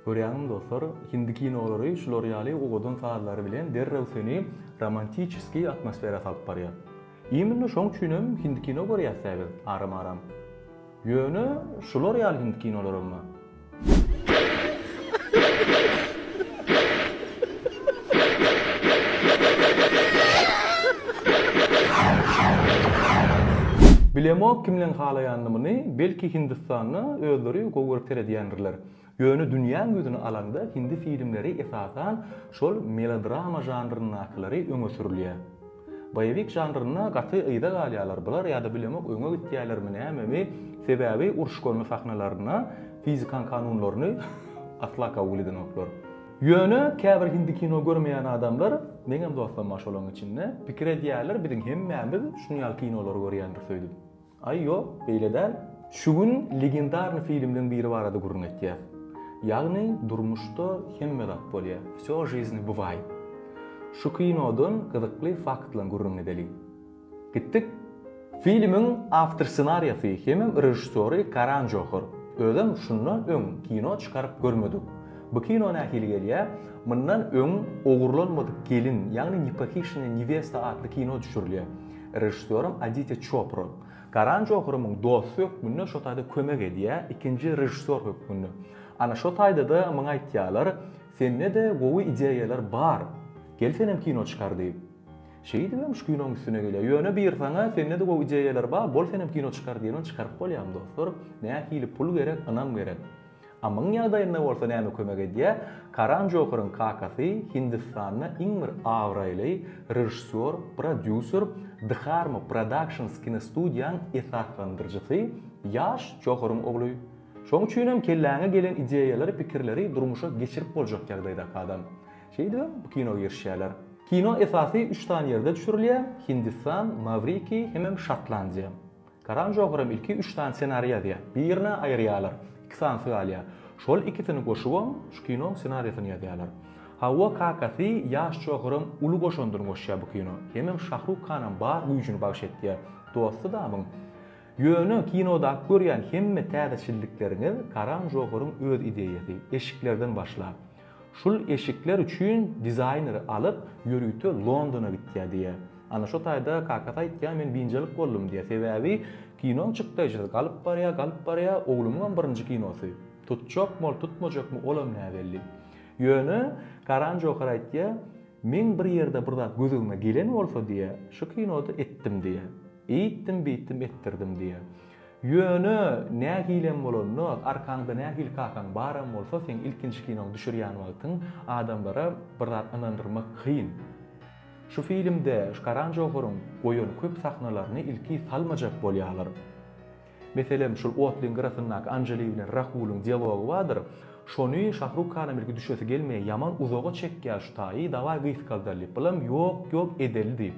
Görýäňizmi dostlar, hindi kinolary şular ýaly owadan sazlary bilen derrew seni romantiçeskiý atmosfera salyp barýar. Imini şoň üçinem hindi kino görýäs dä biz aram aram. Ýöne şular ýaly hindi kinolarammy? Bilemok kimleň halaýanyny muny, belki hindistanda özleri gowy görüp seredýändirler. Ýöne dünýäň ýüzüni alanda hindi filmleri esasan şol melodrama žanryndakylary öňe sürülýär. Boýewik žanrynda gaty yza galýarlar bular ýa-da bilemok öňe gitýärlermi nämemi sebäbi uruş-gorny sahnalarynda fizikaň kanunlaryny asla kabul edenoklar. Ýöne käbir hindi kino görmeýän adamlar, meňem dostum bar şolaň içinde, pikir edýärler biziň hemmämiz şunýaly kinolary görýändiris öýdüp. Aý ýok, beýle däl. Şu gün legendarny filmleň biri barada gürrüň etýäs. Ýagny durmuşda hemme zat bolýa, Vsё žizny bywaýt. Şu kinodan gyzykly faktlaň gürrüň edeli. Gitdik. Filmiň awtor ssenariýasy hemem režissýory Karan Johar. Özem şundan öň kino çykaryp görmedik. Bu kino nähili gelýä, mundan öň Ogurlanmadyk gelin, ýagny Nepahişenä newesta atly kino düşürilýä. Režissýorym Aditýa Çopra. Karan Johary muň dosty hökmünde şo taýda kömek edýär, ikinji režissýor hökmünde. Ana şo taýda-da muňa aýtýarlar, Sende-de gowy ideýalar bar. Gel senem kino çykar diýip. Şeýdibem şu kinoň üstüne gelýär. Ýöne buyursaňa, sende-de gowy ideýalar bar, bol senem kino çykar diýibem çykaryp bolýarmy dostlar? Nähili pul gerek, ynam gerek. Amyň ýagdaýynda bolsa näme kömek edýär? Karan Joharyň kakasy Hindistanda iň bir abraýly režissýor, prodýuser, Dharma Productions kinostudiýaň esaslandyryjysy, Ýaş Joharyň ogly. Şoň üçin hem kelläňe gelen ideýalary, pikirleri durmuşa geçirip boljak ýagdaýdaky adam. Şeýdibem bu kino girişýärler. Kino esasy üç sany ýerde düşürilýär, Hindistan, Mawriki hemem Şotlandiýa. Karan Jokeram ilki üç sany ssenari ýazýa. Birini aýyrýalar. Iki sanysy galýa. Şol ikisini goşubam şu kinoň ssenariýasyny ýazýalar. Hawa kakasy ýaş Jokeram uly goşandyny goşýa bu kino. Hemem Şahruk Kanam bar güýjüni bagyş etýä. Dosty damyň. Ýöne kinodaky görýän hemme täzeçillikleriňiz Karan Jokeryň öz ideýasy. Eşiklerden başlap. Şul eşikler üçin dizaýneri alyp, ýörite Londona gitýär diýýä. Ana şo taýda kakasy aýtýar, men biynjalyk boldum diýýä. Sebäbi kinoň çykdaýjasy galyp barýar, galyp barýar, oglumyňam birinji kinosy. Tutjakmy ol, tutmajakmy, olam näbelli. Ýöne Karan Johar aýtýar, Meň bir ýerde bir zat gözügime gelen bolsa diýýä, şu kinoda etdim diýýä. Eýtdim, beýtdim etdirdim diýýä. Ýöne nähilem bolanda, arkaňda nähili kakaň baram bolsa, seň ilkinji kinoňy düşürýän wagtyň adamlara bir zat ynandyrmak kyn. Şu filmde şu Karan Johar-yň goýan köp sahnalaryny ilki salmajak bolýarlar. Meselem, şul otlyň gyrasyndaky Anjeli bilen Rahulyň dialogy bardyr. Şony Şahruk Hanam ilki düşesi gelmeýär, ýaman uzaga çekýär şu taýy, dawaý gysgaldalyp, bulam ýok, ýok edeli diýip.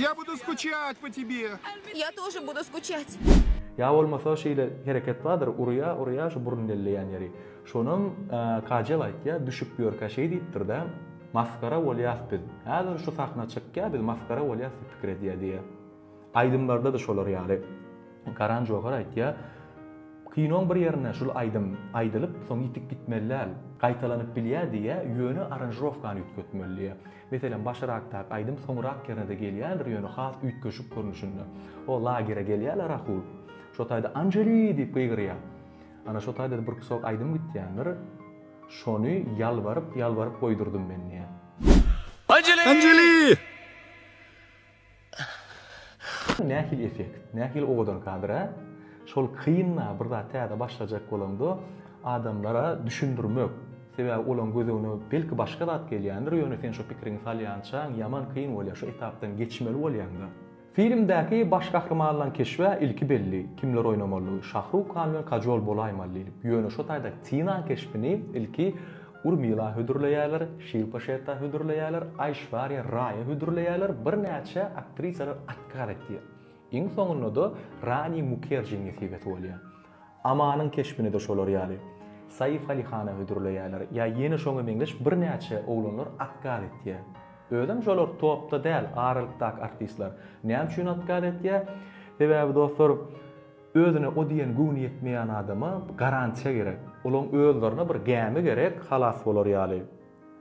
Ýa budu skuçýat po tebe. Ýa tože budu skuçýat. Ýa bolmasa şeýle hereket bardyr urýa urýa şu burun delleýän ýeri şonam kajel aýtýa düşüp ýörkä şeý diýipdirda masgara bolýas biz häzir şu sahna çykýa biz masgara bolýas diýip pikir edýä diýýä. Aýdymlarda-da şolar ýaly. Karan Johar aýtýar, Kinoň bir ýerinde şul aýdym aýdylyp, soň ýitip gitmeli däl. Gaýtalanyp bilýär diýýä, ýöne aranjirovkany üýtgetmeli diýýä. Meselem, başyrakdaky aýdym soňrak ýerine-de gelýändir, ýöne has üýtgeşik görnüşinde. O lagere gelýär-le Rahul. Şo taýda Anjeli! diýip gygyrýar. Ana şo taýda-da bir kusok aýdym gitýändir. Şony ýalbaryp, ýalbaryp goýdurdym men diýýär. Anjeli! Nähili effekt, nähili owadan kadr a? Şol kyn-a bir zat täze başlajak bolanda adamlara düşündirmek. Sebäbi olaň gözegine belki başga zat gelýändir, ýöne sen şo pikiriňi salýançaň ýaman kyn bolýar, şo etapdan geçmeli bolýaň-da. Filmdäki baş gahrymanlaň keşbä ilki belli, kimler oýnamalydygy, Şahruk Han bilen Kajol bolaýmaly diýlip, ýöne şo taýda Tinaň keşbini ilki Urmila hödürleýärler, Şilpa Şetta hödürleýärler, Aýşwarýa Raýa hödürleýärler, birnäçe aktrisalar atkaz etýär. Iň soňunda-da Rani Mukerjiň nesibesi bolýar. Amanyň keşbini-de şolar ýaly, Saif Ali Hana hödürleýärler ýa ýene şoňa meňzeş birnäçe oglanlar atkaz etýär. Özem şolar topda däl, aralykdaky artistler. Näme üçin atkaz etýär? Sebäbi dostlar, Özüne o diýen göwni ýetmeýän adama garantiýa gerek. Olaň özlerine bir gämi gerek halas bolar ýaly.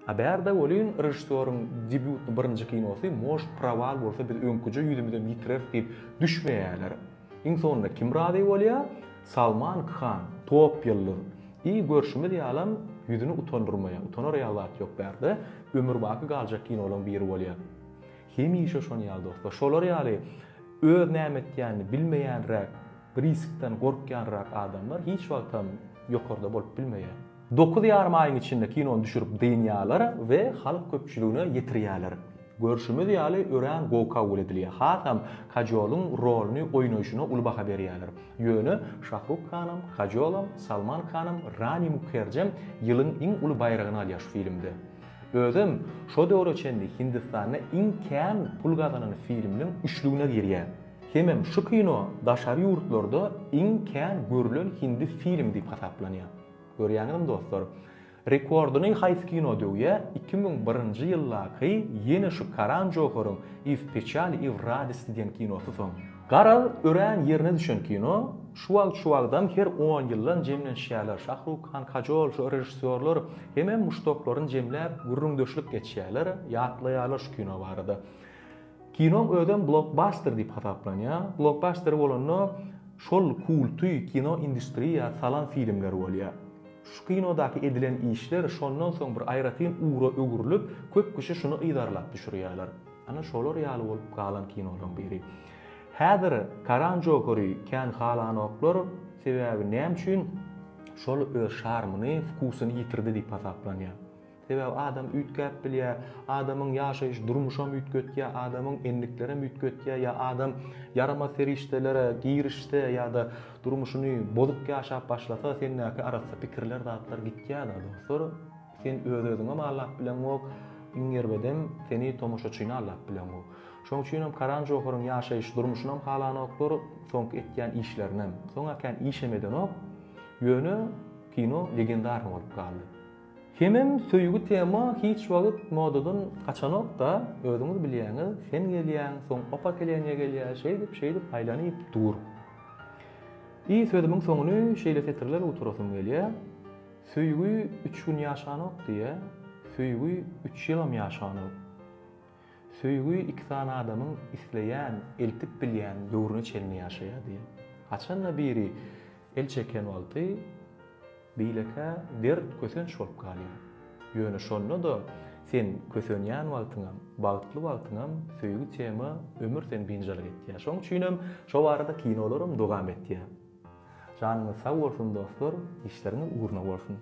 A bärde welin režissýoryň debýutny birinji kinosy Most prowal bolsa biz öňküje ýüzümizem ýitireris diýip düşmeýäler. Iň soňunda kim razy bolýa? Salman Khan, top ýyldyz. I görşümiz ýalam ýüzüni utandyrmaýa, utanar ýaly zat ýok bärde, ömürbaky galjak kinolaň biri bolýa. Hemişe şon ýaly dostlar. Şolar ýaly öz näme etýänini bilmeýänräk, riskden gorkýanrak adamlar hiç wagtam ýokarda bolup bilmeýär. Dokuz ýarym aýyň içinde kinony düşürip dynýarlar we halk köpçüligine ýetirýärler. Görşümiz ýaly örän gowy kabul edilýär. Hasam Kajolyň roluny oýnaýşyna uly baha berýärler. Ýöne Şahruk Hanam, Kajolam, Salman Khanam, Rani Mukherjem ýylyň iň uly baýragyny alýar şu filmde. Özem şo döwre çenli Hindistanda iň kän pul gazanan filmleriň üçlügine girýär. Hemem şu kino daşary ýurtlarda iň kän görülen hindi filmi diýip hasaplanýar. Görýäňizmi dostlar? Rekordyny haýsy kino döwýär? Iki müň birinji ýyldaky ýene şu Karan Joharyň Iz pechali i w radisty diýen kinosy soň. Garaz, örän ýerine düşen kino. Şu wagt şu wagtam her on ýyldan jemlenişýärler. Şahruk Han, Kajol, şu režissýorlar hemem muşdaklaryny jemläp, gürrüňdeşlik geçýärler, ýatlaýarlar şu kino barada. Kinoň özem blokbaster diýip hasaplanýar. Blokbaster bolanda şol kulty kino industriýa salan filmler bolýar. Şu kinodaky edilen işler şondan soň bir aýratyn ugra öwrülip, köp kişi şuny yzarlap düşürýärler. Ana şolar ýaly bolup galan kinolaryň biri. Häzir Karan Jokary kän halanoklar, sebäbi näme üçin şol öz şarmyny, wkusyny ýitirdi diýip hasaplanýar. Sebäbi adam üýtgäp bilýär, adamyň ýaşaýyş durmuşam üýtgetýär, adamyň endiklerem üýtgetýär ýa adam ýaramaz serişdelere girişse ýa-da durmuşyny bozuk ýaşap başlasa sendäki arassa pikirler zatlar gitýär-de dostlar. Sen öz-özüňem aldap bileňok, iň erbedem, seni tomaşaçyny aldap bileňok. Şonuň üçinem Karan Johar-yň ýaşaýyş durmuşynam halanoklar, soňky etýän işlerinem. Soňa kän işem edenok, ýöne kino legendarny bolup galdy. Hemem söýgi tema hiç wagt modadan gaçanok-da, özüňiz bilýäňiz, sen gelýäň, soň opa keleniýe gelýär, şeýdip, şeýdip aýlanyp dur. I sözümiň soňuny şeýle setirler gutarasym gelýär. Söýgi üç gün ýaşanok diýýä, söýgi üç ýylam ýaşanok. Söýgi iki sany adamyň isleýän, eltip bilýän döwrüne çenli ýaşaýar diýýä. Haçan-da biri el çeken wagty beýlekä dert, kösenç bolup galýar. Ýöne şonda-da sen kösenýän wagtyňam, bagtly wagtyňam söýgi tema ömür seni biynjalyk etýär. Şoň üçinem şo barada kinolaram dowam etýär. Janyňyz sag bolsun dostlar işleriňiz ugruna bolsun.